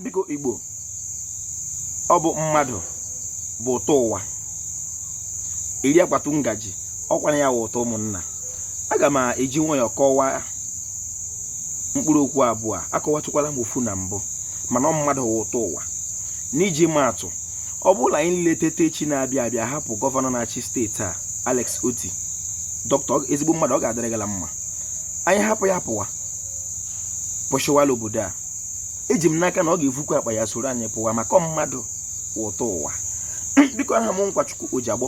biko igbo ọ bụ mmadụ bụ ụtọ ụwa eri akwatu ngaji ọkwanụ ya wụ ụtọ ụmụnna aga m eji nwayọọ kọwaa mkpụrụ okwu abụọ akọwatụkwala m ofu na mbụ mana ọ mmadụ wụ ụtọ ụwa n'iji maatụ ọ bụrụ na anyị leteta echi na-abịa abịa hapụ gọvanọ na-achị steeti a Alex Oti dọkịta ezigbo mmadụ ọ ga-adịrị gala mma anyị hapụ ya pụwa pụshịwa la obodo a eji m n'aka na ọ ga-evukwa akpa ya soro anyị pụwa maka ọ mmadụ bụ ụtọ ụwa biko aha m nkwachukwu ojiagbọ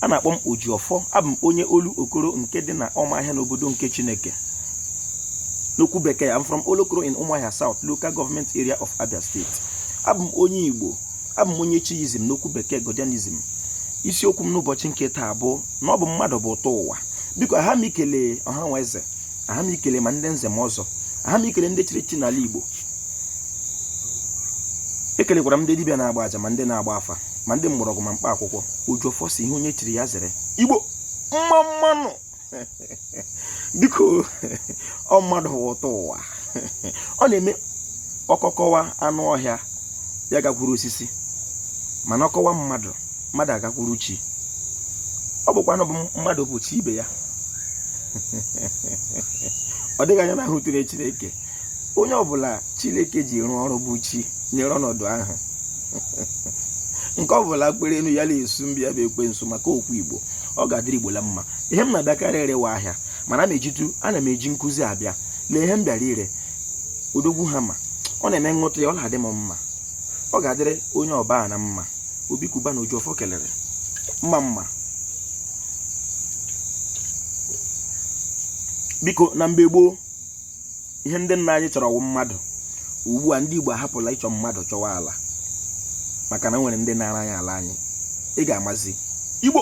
a na-akpọ m ojiọfọ abụ m onye olokoro nke dị na ọmahịa n'obodo nke chineke n'okwu bekee I'm from olokoro in ụmụahịa south local government area of abia state abụ m onye igbo abụ m onye chiizm n'okwu bekee godianism isiokwu m n'ụbọchị nke taa bụ na ọ bụ mmadụ bụ ụtọ ụwa biko aha m ikele ọha na eze aha m ikele ma ndị nze ma ọzọ aha m ikele ndị chiri chi n'ala Igbo ekelekwara m ndị dibịa na-agba aja ma ndị na-agba afa ma ndị mgbọrọgwụ ma mkpa akwụkwọ ojiọfọ sị ihe onye chiri ya zere Igbo mma mma nụ biko ọ mmadụ wụ ụtọ ụwa ọ na-eme ọkọ kọwa anụ ọhịa ya gakwuru osisi mana ọ kọwa mmadụ mmadụ agakwuru chi ọ bụkwa na ọ bụ mmadụ bụ chi ibe ya ọ dịghị anya hụtụrụ chineke onye ọbụla chineke ji rụọ ọrụ bụ chi nyere ọnọdụ ahụ nke ọbụla kpere enu ya na-esu mbịa bụ ekwensu maka okwu igbo ọ ga-adịrị igbo la mma ihe m na-abịakarị ire wụ ahịa mana m ejitu ana m eji nkụzi abịa lee ihe m bịara ire odogwu hammer ọ na-eme nghọta ya ọ na-adị m mma ọ ga-adịrị onye ọbụla na mma obi cubana ojiọfọ kelere mma mma biko na mgbe gboo ihe ndị nna anyị chọrọ wụ mmadụ ugbu a ndị Igbo ahapụla ịchọ mmadụ chọwa ala maka na e nwere ndị naara anyị ala anyị ị ga-amazi Igbo